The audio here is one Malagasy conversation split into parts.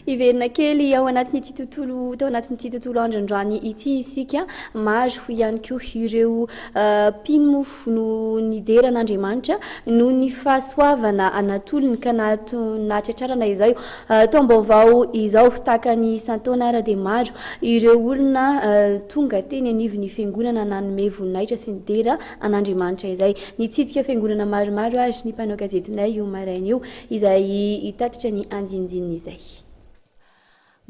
Hiverina kely ao anatin'ity tontolo tao anatin'ity tontolo andrandrany ity isika. Maro ihany koa ireo mpino moa no nidera an'Andriamanitra noho ny fahasoavana natolony ka nahatratrarana izao taom-baovao izao. Tahaka ny isan-taona àry dia maro ireo olona tonga teny anivon'ny fiangonana nanome voninahitra sy nidera an'Andriamanitra izay. Nitsidika fiangonana maromaro àry ny mpanao gazetinay io maraina io. Izay hitatitra ny andinindininy izay.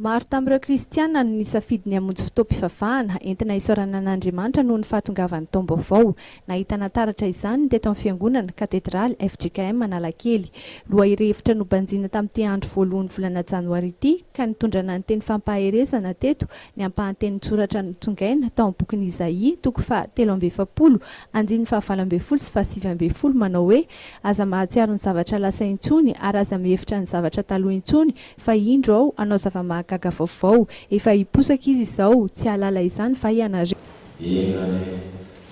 Maro tamin'ireo kristiana no nisafidy ny hamonjy fotoam-pivavahana entina hisaorana an'Andriamanitra noho ny fahatongavan'ny taom-baovao. Nahitana taratra izany ny teto amin'ny Fiangonana katedraly fjkm Analakely. Lohahevitra nobanjina tamin'ity andro voalohan'ny volana janoary ity ka nitondrana ny teny fampaherezana teto ny ampahan-tenin-tsoratra notsongaina tao amin'ny bokin'i Izaia toko faha telo amby efapolo andininy faha valo ambin'ny folo sy faha sivy ambin'ny folo manao hoe Aza mahatsiaro ny zavatra lasa intsony ary aza mihevitra ny zavatra taloha intsony fa indro aho hanao zava-mahagaga vaovao. Efa hiposaka izy izao, tsy hahalala izany va ianareo? Eny anie,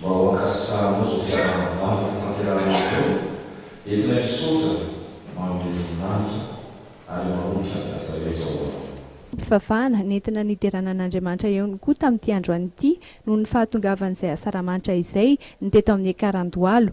mba ho ankasitrahanao izao fiaraha-mivavaka tanterahina izao, eto ilay misaotra manome voninahitra ary mahomby hiara-miasa rehetra ho anao. Mpivavahana nentina niderana an'Andriamanitra ihany koa tamin'ity androany ity noho ny fahatongavan'izay asaramanitra izay ny teto amin'ny Ekarahandohalo.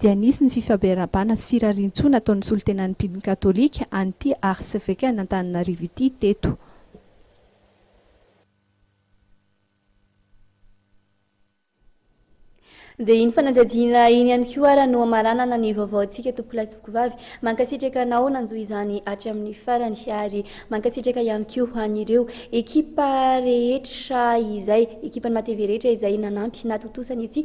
dia nisy ny fifabearabana sy firarian-tsoa nataon'ny solontenan'ny mpino katolika an'ity arsevekan'Antananarivo ity teto. Dia iny fanadihadiana iny ihany koa ara no hamaranana ny vaovaontsika tompokolahy sy tompkovavy. Mankasitraka anao nanjo izany hatramin'ny farany ary mankasitraka ihany koa an'ireo ekipa rehetra izay, ekipan'ny maha TV rehetra izay nanampy natontosa ny ity